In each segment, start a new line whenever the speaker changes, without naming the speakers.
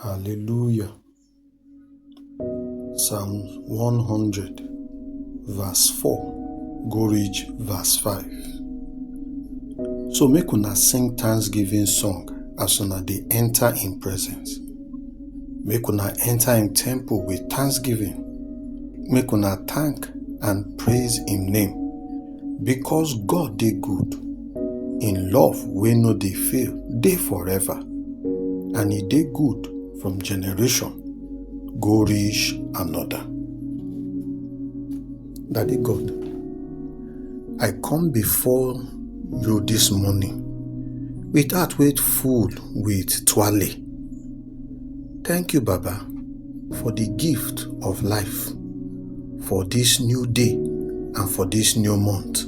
Hallelujah. Psalm 100, verse 4, go reach verse 5. So make una sing thanksgiving song as una dey enter in presence. Make una enter in temple with thanksgiving. Make una thank and praise him name. Because God dey good, im love wey no dey fail dey forever, and e dey good from generation go reach another. Daddy God, I come before you this morning with heart wey full with twale. Thank you, Baba, for the gift of life, for this new day, and for this new month,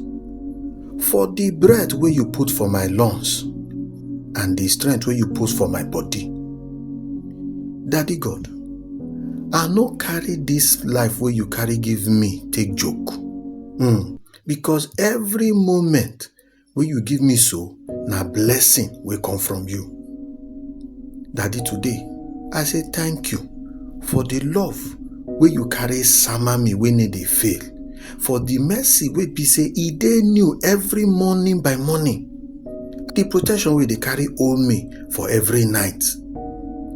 for the breath where you put for my lungs, and the strength where you put for my body. Daddy God, I no carry this life where you carry give me take joke. Mm. Because every moment wey you give me so na blessing wey come from you. Daddy, today, I say thank you for the love wey you carry sama me wey no dey fail, for the mercy wey be say e dey new every morning by morning, the protection wey dey carry hold me for every night.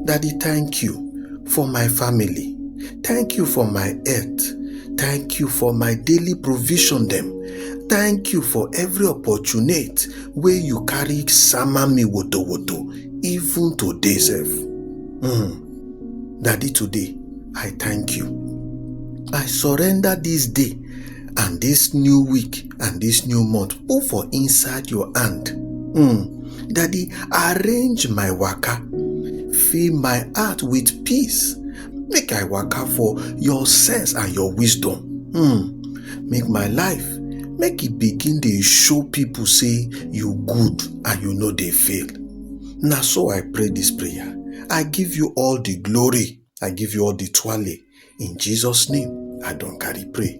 Daddy, thank you for my family. Thank you for my health. Thank you for my daily provision dem. thank you for every opportunity wey you carry sama me woto woto even today sef mm. daddy today i thank you i surrender this day and this new week and this new month put for inside your hand mm. daddy arrange my waka fill my heart with peace make i waka for your sense and your wisdom hmm make my life make e begin dey show people say you good and you no dey fail na so i pray this prayer i give you all the glory i give you all the twale in jesus name i don carry pray